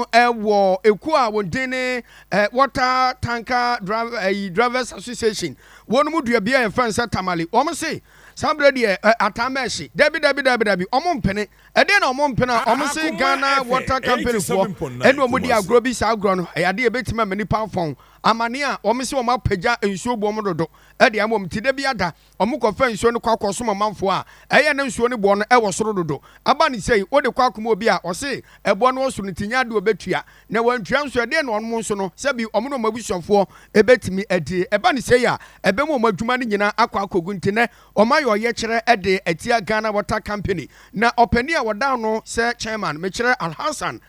wɔ ekuo a wɔn din ne eh, Water Tanker Driver, eh, Drivers Association. Wɔn mu dua bi a yɛfrɛ no sɛ tamale. Wɔn se saa berɛ deɛ eh, ataa mɛɛhye. Dabi dabi dabi dabi, wɔn mpene. Ɛdeɛ na wɔn mpene a, wɔn se Ghana Water Company foɔ ɛna wɔn di agorɔ bi saa agorɔ no. Ɛyɛ adeɛ ɛbɛtumi ama nipa afɔn. Amane a wɔn se wɔn apagya nsuo bu wɔn dodo ɛdeɛ ama wɔn ti da bi ada. Wɔkɔfa nsuo no kɔ akɔsom ɔmanfoɔ a ɛyɛ na nsuo no boɔ no wɔ soro dodo. Aba no sei, wode kɔ akoma obi a ɔse ɛboɔ no wɔ soro no nti nyɛ adeɛ a ɔbɛtua, na wantua nso ɛdeɛn na wɔn nso no, sɛ bi wɔn ne wɔn abusuafoɔ bɛtumi adie. Ɛba no sei a, ɛbɛma wɔn adwuma no nyinaa akɔ akɔgu. Nti nnɛ, wɔayɛ ɔyɛkyerɛ de atia Ghana Water Company, na ɔpanin a wɔdaa no sɛ chairman, mekyerɛ Alhassan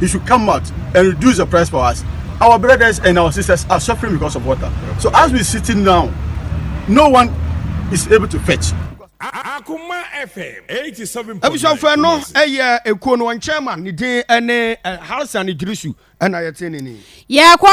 he should come out and reduce the price for us. Our brothers and our sisters are suffering because of water. So as we're sitting now, no one is able to fetch. Akuma FM eighty seven point nine. Abusuafo no ɛyɛ ekuo no wɔn chairman ne din ɛne Harrison Idrisu ɛna yɛte ne ni. Yɛkɔ